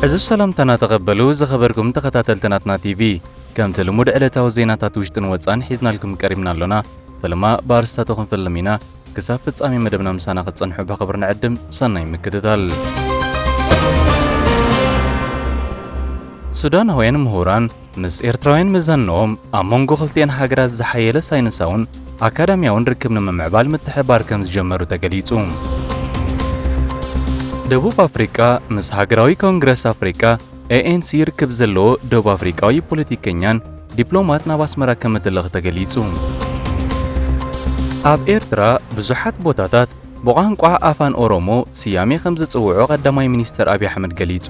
ዕዙዝ ሰላምታና ተቐበሉ ዝኸበርኩም ተኸታተልቲ ናትና ቲቪ፣ ከምቲ ልሙድ ዕለታዊ ዜናታት ውሽጥን ወጻን ሒዝናልኩም ቀሪብና ኣሎና። ፈለማ ብኣርስታቱ ክንፍልም ኢና። ክሳብ ፍጻሜ መደብና ምሳና ክትጸንሑ ብኽብሪ ንዕድም። ሰናይ ምክትታል። ሱዳናውያን ምሁራን ምስ ኤርትራውያን መዛንኦም ኣብ መንጎ ክልቲኣን ሃገራት ዝሓየለ ሳይንሳውን ኣካዳሚያውን ርክብ ንምምዕባል ምትሕብባር ከምዝጀመሩ ተገሊጹ። ደቡብ ኣፍሪቃ ምስ ሃገራዊ ኮንግረስ ኣፍሪቃ ANC ርክብ ዘለዎ ደቡብ ኣፍሪቃዊ ፖለቲከኛን ዲፕሎማት ናብ ኣስመራ ከምእትልእኽ ተገሊጹ። ኣብ ኤርትራ ብዙሓት ቦታታት ብቋንቋ ኣፋን ኦሮሞ ስያሜ ከም ዝጽውዑ ቀዳማይ ሚኒስተር ኣብይ ኣሕመድ ገሊጹ።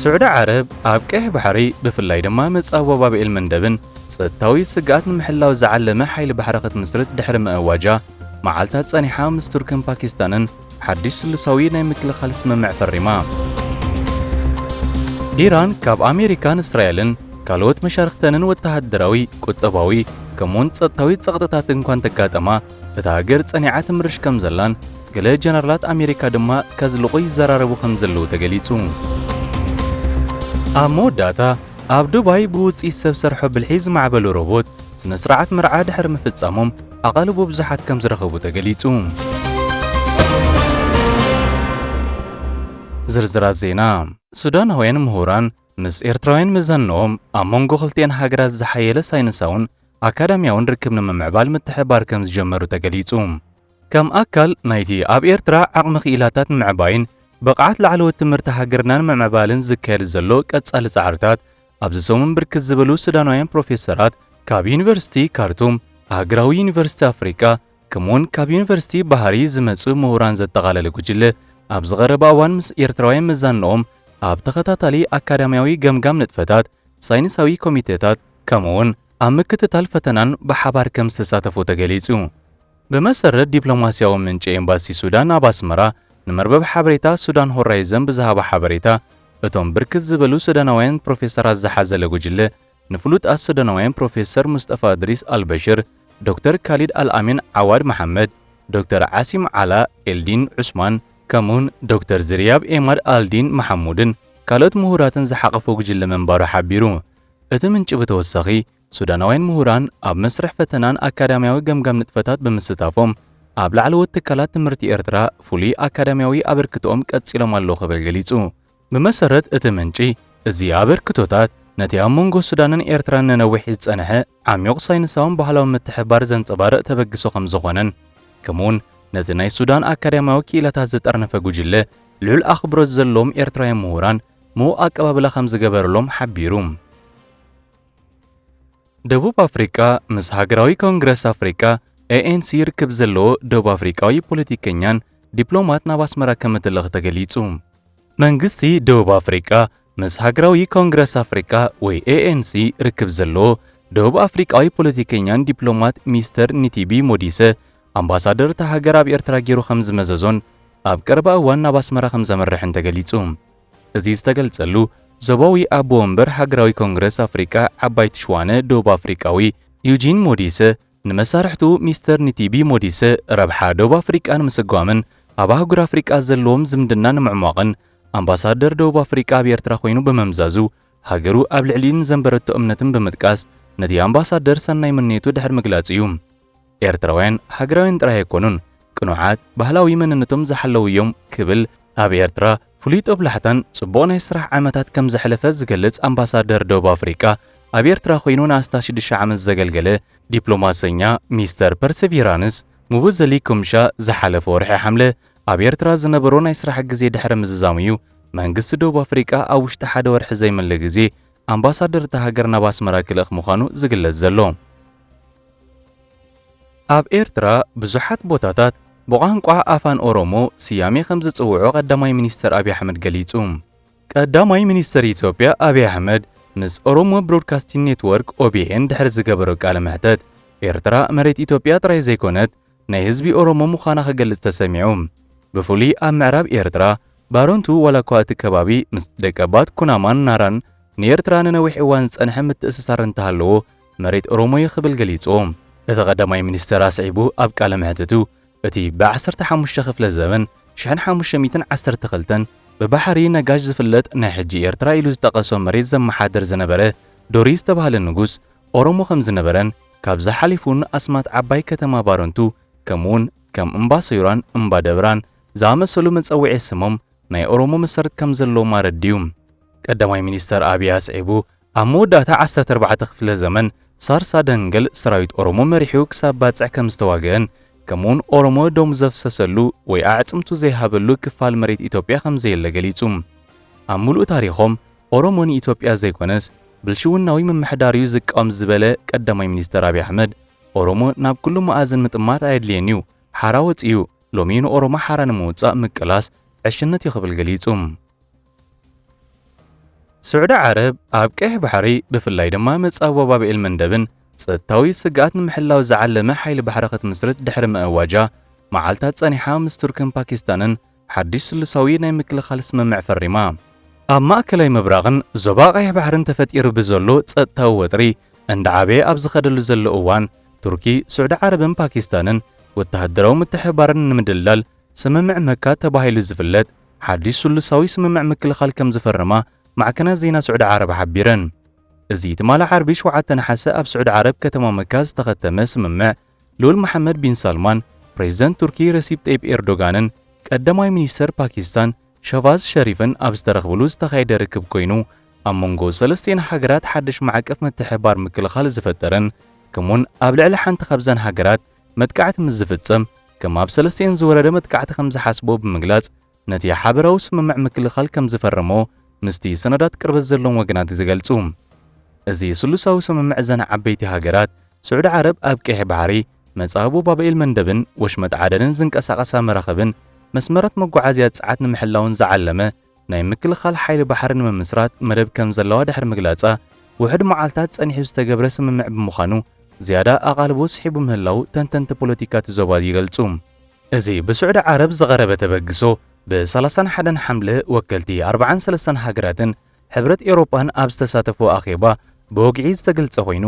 ስዑዲ ዓረብ ኣብ ቀይሕ ባሕሪ ብፍላይ ድማ መጻብቦ ባብኤል መንደብን ጸጥታዊ ስግኣት ንምሕላው ዝዓለመ ሓይሊ ባሕሪ ክትምስርት ድሕሪ ምእዋጃ መዓልታት ጸኒሓ ምስ ቱርክን ፓኪስታንን ሓድሽ ስሉሳዊ ናይ ምክልኻል ስምምዕ ፈሪማ። ኢራን ካብ ኣሜሪካን እስራኤልን ካልኦት መሻርኽተንን ወተሃደራዊ፣ ቁጠባዊ ከምኡ'ውን ጸጥታዊ ጸቕጥታት እንኳ እንተጋጠማ እታ ሃገር ጸኒዓ ትምርሽ ከምዘላን ገለ ጀነራላት ኣሜሪካ ድማ ከዝልቑ ይዘራረቡ ከምዘለዉ ተገሊጹ። ኣብ መወዳእታ፣ ኣብ ዱባይ ብውጽኢት ሰብ ሰርሖ ብልሒ ዝማዕበሉ ሮቦት ስነ-ስርዓት መርዓ ድሕሪ ምፍጻሞም፣ ኣቓልቦ ብዙሓት ከም ዝረኸቡ ተገሊጹ። ዝርዝራት ዜና፣ ሱዳናውያን ምሁራን ምስ ኤርትራውያን መዛንኦም ኣብ መንጎ ክልቲኣን ሃገራት ዝሓየለ ሳይንሳውን ኣካዳሚያውን ርክብ ንምምዕባል ምትሕብባር ከም ዝጀመሩ ተገሊጹ። ከም ኣካል ናይቲ ኣብ ኤርትራ ዓቕሚ ክኢላታት ንምዕባይን ብቕዓት ላዕለዎት ትምህርቲ ሃገርና ንምምዕባልን ዝካየድ ዘሎ ቀጻሊ ጻዕርታት ኣብዚ ሰሙን ብርክት ዝበሉ ሱዳናውያን ፕሮፌሰራት ካብ ዩኒቨርሲቲ ካርቱም፣ ሃገራዊ ዩኒቨርሲቲ ኣፍሪቃ ከምኡ'ውን ካብ ዩኒቨርሲቲ ባህሪ ዝመጽኡ ምሁራን ዘጠቓለለ ጉጅለ ኣብዚ ቀረባ እዋን ምስ ኤርትራውያን መዛንኦም ኣብ ተኸታታሊ ኣካዳምያዊ ገምጋም ንጥፈታት ሳይንሳዊ ኮሚቴታት ከምኡ'ውን ኣብ ምክትታል ፈተናን ብሓባር ከም ዝተሳተፉ ተገሊጹ። ብመሰረት ዲፕሎማስያዊ ምንጪ ኤምባሲ ሱዳን ኣብ ኣስመራ ንመርበብ ሓበሬታ ሱዳን ሆራይዘን ብዝሃባ ሓበሬታ፣ እቶም ብርክት ዝበሉ ሱዳናውያን ፕሮፌሰራት ዝሓዘለ ጉጅለ፣ ንፍሉጣት ሱዳናውያን ፕሮፌሰር ሙስጠፋ እድሪስ ኣልበሽር፣ ዶክተር ካሊድ ኣልኣሚን ዓዋድ መሓመድ፣ ዶክተር ዓሲም ዓላ ኤልዲን ዑስማን፣ ከምኡ'ውን ዶክተር ዝርያብ ኤማድ ኣልዲን መሓሙድን ካልኦት ምሁራትን ዝሓቘፈ ጉጅለ ምንባሩ ሓቢሩ። እቲ ምንጪ ብተወሳኺ፣ ሱዳናውያን ምሁራን ኣብ መስርሕ ፈተናን ኣካዳምያዊ ገምጋም ንጥፈታት ብምስታፎም ኣብ ላዕለዎት ትካላት ትምህርቲ ኤርትራ ፍሉይ ኣካዳምያዊ ኣበርክትኦም ቀጺሎም ኣለዉ ክብል ገሊጹ። ብመሰረት እቲ ምንጪ፣ እዚ ኣበርክቶታት ነቲ ኣብ መንጎ ሱዳንን ኤርትራን ንነዊሕ ዝጸንሐ ዓሚዩቕ ሳይንሳውን ባህላውን ምትሕብባር ዘንጸባርቕ ተበግሶ ከም ዝኾነን ከምኡ'ውን ነቲ ናይ ሱዳን ኣካዳምያዊ ክኢላታት ዝጠርነፈ ጉጅለ ልዑል ኣኽብሮት ዘለዎም ኤርትራውያን ምሁራን ምዉቕ ኣቀባብላ ከም ዝገበረሎም ሓቢሩ። ደቡብ ኣፍሪቃ ምስ ሃገራዊ ኮንግረስ ኣፍሪቃ ኤኤንሲ ርክብ ዘለዎ ደቡብ ኣፍሪቃዊ ፖለቲከኛን ዲፕሎማት ናብ ኣስመራ ከም እትልእኽ ተገሊጹ። መንግስቲ ደቡብ ኣፍሪቃ ምስ ሃገራዊ ኮንግረስ ኣፍሪቃ ወይ ኤኤንሲ ርክብ ዘለዎ ደቡብ ኣፍሪቃዊ ፖለቲከኛን ዲፕሎማት ሚስተር ኒቲቢ ሞዲሰ ኣምባሳደር እታ ሃገር ኣብ ኤርትራ ገይሩ ከም ዝመዘዞን ኣብ ቀረባ እዋን ናብ ኣስመራ ከም ዘምርሕን ተገሊጹ። እዚ ዝተገልጸሉ፣ ዞባዊ ኣቦ ወንበር ሃገራዊ ኮንግረስ ኣፍሪቃ ዓባይቲ ሽዋነ ደቡብ ኣፍሪቃዊ ዩጂን ሞዲሰ፣ ንመሳርሕቱ ሚስተር ኒቲቢ ሞዲሰ ረብሓ ደቡብ ኣፍሪቃ ንምስጓምን ኣብ ኣህጉር ኣፍሪቃ ዘለዎም ዝምድና ንምዕሟቕን ኣምባሳደር ደቡብ ኣፍሪቃ ኣብ ኤርትራ ኮይኑ ብምምዛዙ ሃገሩ ኣብ ልዕሊኡ ንዘንበረቶ እምነትን ብምጥቃስ ነቲ ኣምባሳደር ሰናይ ምንዮቱ ድሕሪ ምግላጹ እዩ። ኤርትራውያን ሃገራውያን ጥራይ ኣይኮኑን፣ ቅኑዓት፣ ባህላዊ መንነቶም ዝሓለዉ እዮም ክብል ኣብ ኤርትራ ፍሉይ ጦብላሕታን ጽቡቕ ናይ ስራሕ ዓመታት ከም ዘሕለፈ ዝገልጽ ኣምባሳደር ደቡብ ኣፍሪቃ ኣብ ኤርትራ ኮይኑ ንኣስታት ሽዱሽተ ዓመት ዘገልገለ ዲፕሎማሰኛ ሚስተር ፐርሰቪራንስ ሙቡዘሊ ኩምሻ ዝሓለፈ ወርሒ ሓምለ ኣብ ኤርትራ ዝነበሮ ናይ ስራሕ ግዜ ድሕሪ ምዝዛሙ'ዩ መንግስቲ ደቡብ ኣፍሪቃ ኣብ ውሽጢ ሓደ ወርሒ ዘይምለ ግዜ ኣምባሳደር እታ ሃገር ናብ ኣስመራ ክልእኽ ምዃኑ ዝግለጽ ዘሎ። ኣብ ኤርትራ ብዙሓት ቦታታት ብቋንቋ ኣፋን ኦሮሞ ስያሜ ከምዝጽውዑ ቀዳማይ ሚኒስተር ኣብይ ኣሕመድ ገሊጹ። ቀዳማይ ሚኒስተር ኢትዮጵያ ኣብይ ኣሕመድ ምስ ኦሮሞ ብሮድካስቲን ኔትዎርክ፣ ኦቢኤን፣ ድሕሪ ዝገበሮ ቃለ መሕተት፣ ኤርትራ መሬት ኢትዮጵያ ጥራይ ዘይኮነት ናይ ህዝቢ ኦሮሞ ምዃና ክገልጽ ተሰሚዑ። ብፍሉይ ኣብ ምዕራብ ኤርትራ፣ ባረንቱ፣ ዋላኳ እቲ ከባቢ ምስ ደቀባት ኩናማን ናራን ንኤርትራ ንነዊሕ እዋን ዝጸንሐ ምትእስሳር እንተሃለዎ፣ መሬት ኦሮሞ'ዩ ክብል ገሊጹ። እቲ ቀዳማይ ሚኒስተር ኣስዒቡ ኣብ ቃለ መሕትቱ፣ እቲ ብዓሰርተ ሓሙሽተ ክፍለ ዘበን፣ ሽሕን ሓሙሽተ ሚእትን ዓሰርተ ክልተን፣ ብባሕሪ ነጋሽ ዝፍለጥ ናይ ሕጂ ኤርትራ ኢሉ ዝጠቐሶ መሬት ዘመሓድር ዝነበረ ዶሪ ዝተባህለ ንጉስ፣ ኦሮሞ ከም ዝነበረን ካብዚ ሓሊፉ ን ኣስማት ዓባይ ከተማ ባረንቱ ከምኡውን ከም እምባ ሰዩራን እምባ ደብራን ዝኣመሰሉ መጸውዒ ስሞም ናይ ኦሮሞ መሰረት ከም ዘለዎም ኣረዲኡ። ቀዳማይ ሚኒስተር ኣብይ ኣስዒቡ ኣብ መወዳእታ ዓሰርተ ኣርባዕተ ክፍለ ዘመን ሳርሳ ደንገል ሰራዊት ኦሮሞ መሪሑ ክሳብ ባጽዕ ከም ዝተዋገእን ከምኡውን ኦሮሞ ደሙ ዘፍሰሰሉ ወይ ኣዕጽምቱ ዘይሃበሉ ክፋል መሬት ኢትዮጵያ ከም ዘየለ ገሊጹ። ኣብ ምሉእ ታሪኾም ኦሮሞ ንኢትዮጵያ ዘይኮነስ ብልሽውናዊ ምምሕዳር'ዩ ዝቃወም ዝበለ ቀዳማይ ሚኒስተር ኣብይ ኣሕመድ፣ ኦሮሞ ናብ ኩሉ መኣዝን ምጥማት ኣየድልየን'ዩ፣ ሓራ ወጺኡ፣ ሎሚ ንኦሮሞ ሓራ ንምውጻእ ምቅላስ ዕሽነት'ዩ ክብል ገሊጹ። ስዑዲ ዓረብ፣ ኣብ ቀይሕ ባሕሪ ብፍላይ ድማ መጻብቦ ባብኤል መንደብን ጸጥታዊ ስግኣት ንምሕላው ዝዓለመ ሓይሊ ባሕሪ ክትምስርት ድሕሪ ምእዋጃ መዓልታት ጸኒሓ ምስ ቱርክን ፓኪስታንን ሓድሽ ስሉሳዊ ናይ ምክልኻል ስምምዕ ፈሪማ። ኣብ ማእከላይ ምብራቕን ዞባ ቀይሕ ባሕርን ተፈጢሩ ብዘሎ ጸጥታዊ ወጥሪ እንዳዓበየ ኣብ ዝኸደሉ ዘሎ እዋን፣ ቱርኪ፣ ስዑዲ ዓረብን ፓኪስታንን ወተሃደራዊ ምትሕብባረን ንምድልዳል ስምምዕ መካ ተባሂሉ ዝፍለጥ ሓድሽ ስሉሳዊ ስምምዕ ምክልኻል ከምዝፈረማ ማዕከናት ዜና ስዑዲ ዓረብ ሓቢረን። እዚ ትማሊ ዓርቢ ሸውዓተ ነሓሰ ኣብ ስዑዲ ዓረብ ከተማ መካ ዝተኸተመ ስምምዕ፣ ልኡል መሓመድ ቢን ሳልማን፣ ፕሬዝደንት ቱርኪ ረሲፕ ጠይብ ኤርዶጋንን ቀዳማይ ሚኒስተር ፓኪስታን ሸህቫዝ ሸሪፍን ኣብ ዝተረኽብሉ ዝተኻየደ ርክብ ኮይኑ፣ ኣብ መንጎ ሰለስቲኤን ሃገራት ሓድሽ ማዕቀፍ ምትሕብባር ምክልኻል ዝፈጠረን ከምኡ'ውን ኣብ ልዕሊ ሓንቲ ካብዘን ሃገራት መጥቃዕቲ ምስ ዝፍጸም ከም ኣብ ሰለስቲኤን ዝወረደ መጥቃዕቲ ከምዝሓስብኦ ብምግላጽ ነቲ ሓበራዊ ስምምዕ ምክልኻል ከም ዝፈረሞ ምስቲ ሰነዳት ቅርበት ዘለዎም ወገናት ዝገልጹ። እዚ ስሉሳዊ ስምምዕ እዘን ዓበይቲ ሃገራት፣ ስዑዲ ዓረብ ኣብ ቀይሕ ባሕሪ፣ መጻብቦ ባብኤል መንደብን ወሽመጥ ዓደንን ዝንቀሳቐሳ መራኽብን መስመራት መጓዓዝያ ጸዓት ንምሕላውን ዝዓለመ ናይ ምክልኻል ሓይሊ ባሕሪ ንምምስራት መደብ ከም ዘለዋ ድሕሪ ምግላጻ ውሑድ መዓልታት ጸኒሑ ዝተገብረ ስምምዕ ብምዃኑ ዝያዳ ኣቓልቦ ስሒቡ ምህላዉ ተንተንቲ ፖለቲካ እቲ ዞባ ይገልጹ። እዚ ብስዑዲ ዓረብ ዝቐረበ ተበግሶ፣ ብ ሰላሳን ሓደን ሓምለ ወከልቲ ኣርባዓን ሰለስተን ሃገራትን ሕብረት ኤውሮጳን ኣብ ዝተሳተፍዎ ኣኼባ ብወግዒ ዝተገልጸ ኮይኑ፣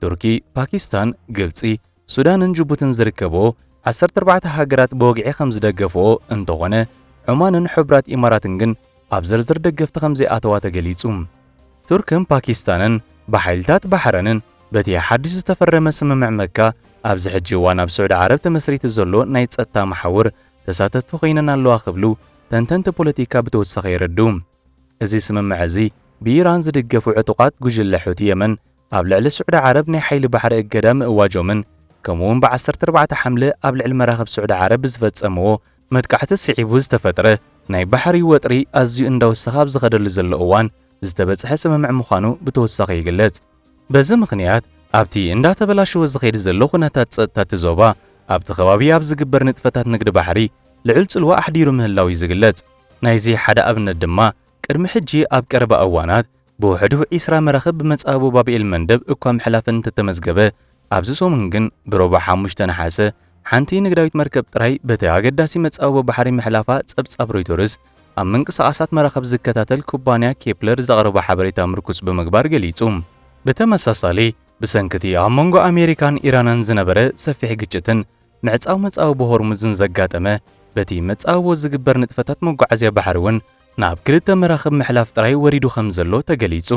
ቱርኪ፣ ፓኪስታን፣ ግብጺ፣ ሱዳንን ጅቡትን ዝርከብኦ ዓሰርተ ኣርባዕተ ሃገራት ብወግዒ ከምዝደገፍኦ እንተኾነ፣ ዖማንን ሕቡራት ኢማራትን ግን ኣብ ዝርዝር ደገፍቲ ከምዘይኣተዋ ተገሊጹ። ቱርክን ፓኪስታንን ብሓይልታት ባሕረንን በቲ ሓድሽ ዝተፈረመ ስምምዕ መካ ኣብዚ ሕጂ እዋን ኣብ ስዑዲ ዓረብ ተመስሪቱ ዘሎ ናይ ጸጥታ መሓውር ተሳተፍቲ ኮይነን ኣለዋ ክብሉ ተንተንቲ ፖለቲካ ብተወሳኺ የረድኡ። እዚ ስምምዕ እዚ ብኢራን ዝድገፉ ዕጡቓት ጉጅለ ሑቲ የመን ኣብ ልዕሊ ስዑዲ ዓረብ ናይ ሓይሊ ባሕሪ እገዳ ምእዋጆምን ከምኡ'ውን ብ ዓሰርተ ኣርባዕተ ሓምለ ኣብ ልዕሊ መራኽብ ስዑዲ ዓረብ ብዝፈጸምዎ መጥቃዕቲ ስዒቡ ዝተፈጥረ ናይ ባሕሪ ወጥሪ ኣዝዩ እንዳወሰኸ ኣብ ዝኸደሉ ዘሎ እዋን ዝተበጽሐ ስምምዕ ምዃኑ ብተወሳኺ ይግለጽ። በዚ ምኽንያት ኣብቲ እንዳተበላሸወ ዝኸይድ ዘሎ ኩነታት ጸጥታ እቲ ዞባ ኣብቲ ከባቢ ኣብ ዝግበር ንጥፈታት ንግዲ ባሕሪ ልዑል ጽልዋ ኣሕዲሩ ምህላዉ'ዩ ዝግለጽ። ናይዚ ሓደ ኣብነት ድማ ቅድሚ ሕጂ ኣብ ቀረባ እዋናት ብውሕዱ ዒስራ መራኽብ ብመጻብቦ ባብኤል-መንደብ እኳ ምሕላፈን እንተተመዝገበ፣ ኣብዚ ሰሙን ግን ብሮቡዕ ሓሙሽተ ነሓሰ ሓንቲ ንግዳዊት መርከብ ጥራይ በቲ ኣገዳሲ መጻብቦ ባሕሪ ምሕላፋ ጸብጻብ ሮይተርስ ኣብ ምንቅስቓሳት መራኽብ ዝከታተል ኩባንያ ኬፕለር ዘቕረቦ ሓበሬታ ምርኩስ ብምግባር ገሊጹ። ብተመሳሳሊ፣ ብሰንኪ'ቲ ኣብ መንጎ ኣሜሪካን ኢራንን ዝነበረ ሰፊሕ ግጭትን ምዕጻው መጻወ ብሆርሙዝን ዘጋጠመ በቲ መጻብቦ ዝግበር ንጥፈታት መጓዓዝያ ባሕሪ'ውን ናብ ክልተ መራኽብ ምሕላፍ ጥራይ ወሪዱ ከምዘሎ ተገሊጹ።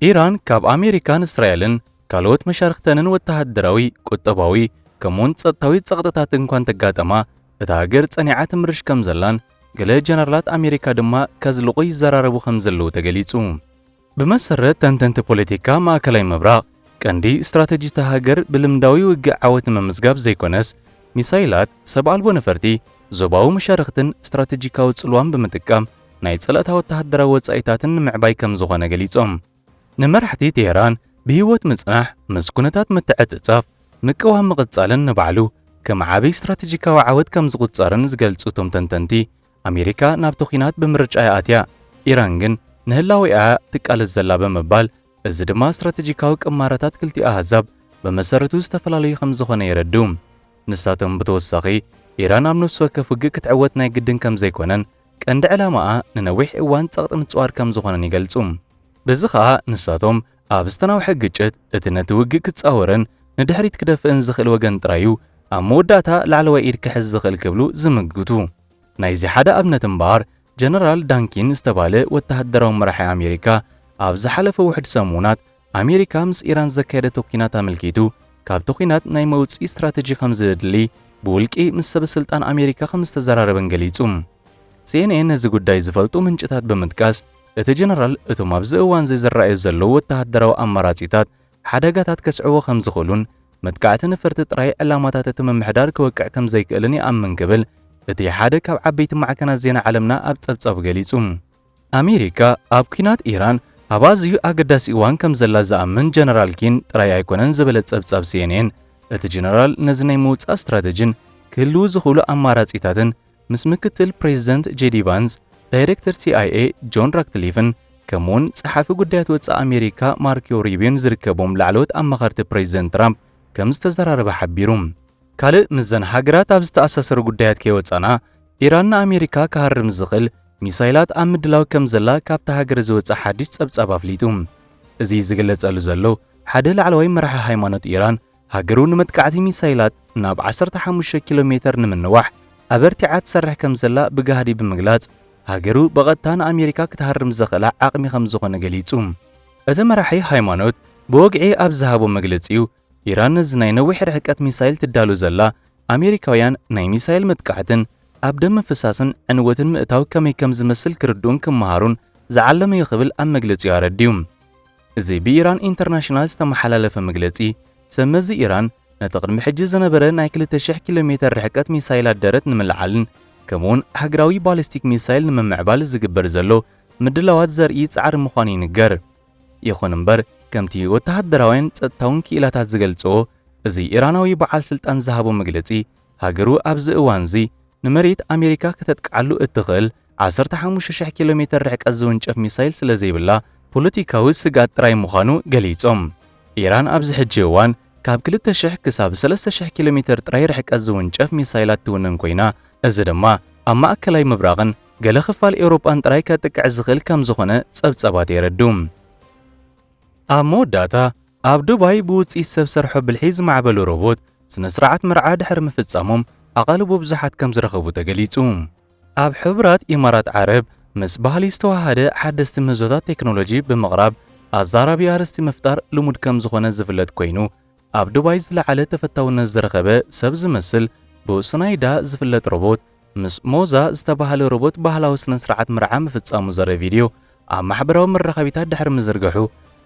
ኢራን ካብ ኣሜሪካን እስራኤልን ካልኦት መሻርኽተንን ወተሃደራዊ፣ ቁጠባዊ ከምኡ'ውን ጸጥታዊ ጸቕጥታት እንኳ እንተጋጠማ እታ ሃገር ጸኒዓ ትምርሽ ከምዘላን ገለ ጀነራላት ኣሜሪካ ድማ ከዝልቑ ይዘራረቡ ከምዘለዉ ተገሊጹ። ብመሰረት ተንተንቲ ፖለቲካ ማእከላይ ምብራቕ፣ ቀንዲ ስትራተጂ እታ ሃገር ብልምዳዊ ውግእ ዓወት ንምምዝጋብ ዘይኮነስ፣ ሚሳይላት፣ ሰብ ኣልቦ ነፈርቲ፣ ዞባዊ መሻርኽትን ስትራተጂካዊ ጽልዋን ብምጥቃም ናይ ጸላእታ ወተሃደራዊ ወጻኢታትን ንምዕባይ ከም ዝኾነ ገሊጾም። ንመራሕቲ ቴህራን ብህይወት ምጽናሕ፣ ምስ ኩነታት ምትዕጽጻፍ ምቅዋም ምቕጻልን ንባዕሉ ከም ዓቢ ስትራተጂካዊ ዓወት ከም ዝቑጸርን ዝገልጹ እቶም ተንተንቲ፣ ኣሜሪካ ናብቲ ኲናት ብምርጫ'ያ ኣትያ፣ ኢራን ግን ንህላዌኣ'ያ ትቃለስ ዘላ ብምባል፣ እዚ ድማ ስትራተጂካዊ ቅማረታት ክልቲኡ ኣህዛብ ብመሰረቱ ዝተፈላለዩ ከም ዝዀነ የረድኡ። ንሳቶም ብተወሳኺ፣ ኢራን ኣብ ነፍሲ ወከፍ ውግእ ክትዕወት ናይ ግድን ከም ዘይኰነን ቀንዲ ዕላማኣ ንነዊሕ እዋን ጸቕጢ ምጽዋር ከም ዝዀነን ይገልጹ። በዚ ኸኣ ንሳቶም ኣብ ዝተናውሐ ግጭት እቲ ነቲ ውግእ ክጻወርን ንድሕሪት ክደፍእን ዝኽእል ወገን ጥራይ'ዩ ኣብ መወዳእታ ላዕለዋይ ኢድ ክሕዝ ዝኽእል ክብሉ ዝምግቱ። ናይዚ ሓደ ኣብነት እምበኣር ጀነራል ዳንኪን ዝተባህለ ወተሃደራዊ መራሒ ኣሜሪካ ኣብ ዝሓለፈ ውሑድ ሰሙናት ኣሜሪካ ምስ ኢራን ዘካየደቶ ኲናት ኣመልኪቱ ካብቲ ኲናት ናይ መውጽኢ ስትራተጂ ከምዘድሊ ብውልቂ ምስ ሰበስልጣን ኣሜሪካ ከምዝተዘራረበን ገሊጹ። ሲኤንኤን ነዚ ጉዳይ ዝፈልጡ ምንጭታት ብምጥቃስ እቲ ጀነራል እቶም ኣብዚ እዋንዚ ዝረኣዩ ዘለዉ ወተሃደራዊ ኣማራጺታት ሓደጋታት ከስዕቡ ከም ዝኽእሉን መጥቃዕቲ ነፈርቲ ጥራይ ዕላማታት እቲ ምምሕዳር ክወቅዕ ከም ዘይክእልን ይኣምን ክብል እቲ ሓደ ካብ ዓበይቲ ማዕከናት ዜና ዓለምና ኣብ ጸብጻቡ ገሊጹ። ኣሜሪካ ኣብ ኲናት ኢራን ኣብ ኣዝዩ ኣገዳሲ እዋን ከም ዘላ ዝኣምን ጀነራል ኪን ጥራይ ኣይኮነን ዝበለ ጸብጻብ ሲኤንኤን፣ እቲ ጀነራል ነዚ ናይ ምውጻእ ስትራተጂን ክህልዉ ዝኽእሉ ኣማራጺታትን፣ ምስ ምክትል ፕሬዝደንት ጄዲ ቫንስ፣ ዳይሬክተር ሲኣይኤ ጆን ራክትሊፍን ከምኡ'ውን ጸሓፊ ጉዳያት ወጻኢ ኣሜሪካ ማርክዮ ሩቢዮን ዝርከቦም ላዕለዎት ኣማኸርቲ ፕሬዝደንት ትራምፕ ከምዝተዘራረበ ሓቢሩ። ካልእ ምስዘን ሃገራት ኣብ ዝተኣሳሰሩ ጉዳያት ከይወጻእና፣ ኢራን ንኣሜሪካ ክሃርም ዝኽእል ሚሳይላት ኣብ ምድላው ከምዘላ ካብታ ሃገር ዝወጸ ሓድሽ ጸብጻብ ኣፍሊጡ። እዚ ዝግለጸሉ ዘሎ፣ ሓደ ላዕለዋይ መራሒ ሃይማኖት ኢራን ሃገሩ ንመጥቃዕቲ ሚሳይላት ናብ ዓሰርተ ሓሙሽተ ኪሎ ሜተር ንምንዋሕ ኣበርቲዓ ትሰርሕ ከምዘላ ብጋህዲ ብምግላጽ፣ ሃገሩ ብቐጥታ ንኣሜሪካ ክትሃርም ዘኽእላ ዓቕሚ ከምዝኾነ ገሊጹ። እቲ መራሒ ሃይማኖት ብወግዒ ኣብ ዝሃቦ መግለጺኡ፣ ኢራን ነዚ ናይ ነዊሕ ርሕቀት ሚሳይል ትዳሎ ዘላ፣ ኣሜሪካውያን ናይ ሚሳይል መጥቃዕትን ኣብ ደም ምፍሳስን ዕንወትን ምእታው ከመይ ከምዝመስል ክርድኡን ክመሃሩን ዝዓለመ'ዩ ክብል ኣብ መግለጺኡ ኣረዲኡ። እዚ ብኢራን ኢንተርናሽናል ዝተመሓላለፈ መግለጺ፣ ሰብ መዚ ኢራን ነቲ ቅድሚ ሕጂ ዝነበረ ናይ ክልተ ሽሕ ኪሎ ሜተር ርሕቀት ሚሳይላት ደረት ንምልዓልን ከምኡ'ውን ኣህጉራዊ ባሊስቲክ ሚሳይል ንምምዕባል ዝግበር ዘሎ ምድላዋት ዘርኢ ጻዕሪ ምዃኑ ይንገር። ይኹን እምበር፣ ከምቲ ወተሃደራውያን ጸጥታውን ክኢላታት ዝገልጽዎ፣ እዚ ኢራናዊ በዓል ስልጣን ዝሃቦ መግለጺ፣ ሃገሩ ኣብዚ እዋን'ዚ ንመሬት ኣሜሪካ ከተጥቅዓሉ እትኽእል ዓሰርተ ሓሙሽተ ሽሕ ኪሎ ሜተር ርሕቀት ዝውንጨፍ ሚሳይል ስለዘይብላ ፖለቲካዊ ስግኣት ጥራይ ምዃኑ ገሊጾም። ኢራን ኣብዚ ሕጂ እዋን ካብ ክልተ ሽሕ ክሳብ ሰለስተ ሽሕ ኪሎ ሜተር ጥራይ ርሕቀት ዝውንጨፍ ሚሳይላት ትውንን ኮይና፣ እዚ ድማ ኣብ ማእከላይ ምብራቕን ገለ ክፋል ኤውሮጳን ጥራይ ከጥቅዕ ዝኽእል ከምዝኾነ ጸብጻባት የረድኡ። ኣብ መወዳእታ፣ ኣብ ዱባይ ብውጽኢት ሰብ ሰርሖ ብልሒ ዝማዕበሉ ሮቦት ስነ-ስርዓት መርዓ ድሕሪ ምፍጻሞም ኣቓልቦ ብዙሓት ከምዝረኸቡ ተገሊጹ። ኣብ ሕቡራት ኢማራት ዓረብ ምስ ባህሊ ዝተወሃሃደ ሓደስቲ ምህዞታት ቴክኖሎጂ ብምቕራብ ኣዛራቢ ኣርእስቲ ምፍጣር ልሙድ ከምዝኾነ ዝፍለጥ ኮይኑ፣ ኣብ ዱባይ ዝለዓለ ተፈታውነት ዝረኸበ ሰብ ዝመስል ብውሱናይ እዳ ዝፍለጥ ሮቦት ምስ ሞዛ ዝተበሃለ ሮቦት ባህላዊ ስነስርዓት መርዓ ምፍጻሙ ዘርኢ ቪድዮ ኣብ ማሕበራዊ መራኸቢታት ድሕሪ ምዝርግሑ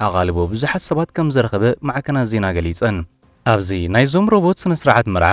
ኣቓልቦ ብዙሓት ሰባት ከምዘረኸበ ማዕከናት ዜና ገሊጸን። ኣብዚ ናይዞም ሮቦት ስነስርዓት መርዓ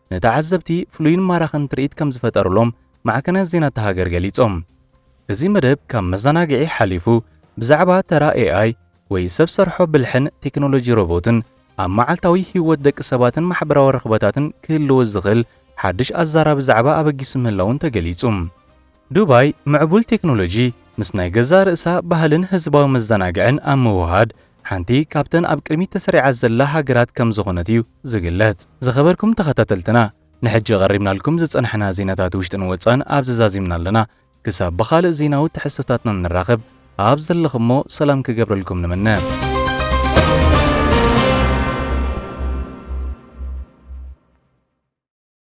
ንተዓዘብቲ ፍሉይን ማራኽን ትርኢት ከም ዝፈጠሩሎም ማዕከናት ዜና እታ ሃገር ገሊጾም። እዚ መደብ ካብ መዘናግዒ ሓሊፉ ብዛዕባ ተራ ኤኣይ ወይ ሰብ ሰርሖ ብልሕን ቴክኖሎጂ ሮቦትን ኣብ መዓልታዊ ህይወት ደቂ ሰባትን ማሕበራዊ ርኽበታትን ክህልዎ ዝኽእል ሓድሽ ኣዛራቢ ዛዕባ ኣበጊሱ ምህላዉን ተገሊጹ። ዱባይ ምዕቡል ቴክኖሎጂ ምስ ናይ ገዛእ ርእሳ ባህልን ህዝባዊ መዘናግዕን ኣብ ምውህሃድ ሓንቲ ካብተን ኣብ ቅድሚት ተሰሪዓ ዘላ ሃገራት ከም ዝኾነት እዩ ዝግለጽ። ዝኸበርኩም ተኸታተልትና ንሕጂ ቀሪብናልኩም ዝጸናሕና ዜናታት ውሽጥን ወጻእን ኣብዚ ዛዚምና ኣለና። ክሳብ ብኻልእ ዜናዊ ትሕዝቶታትና ንራኸብ ኣብ ዘለኹሞ ሰላም ክገብረልኩም ንምነ።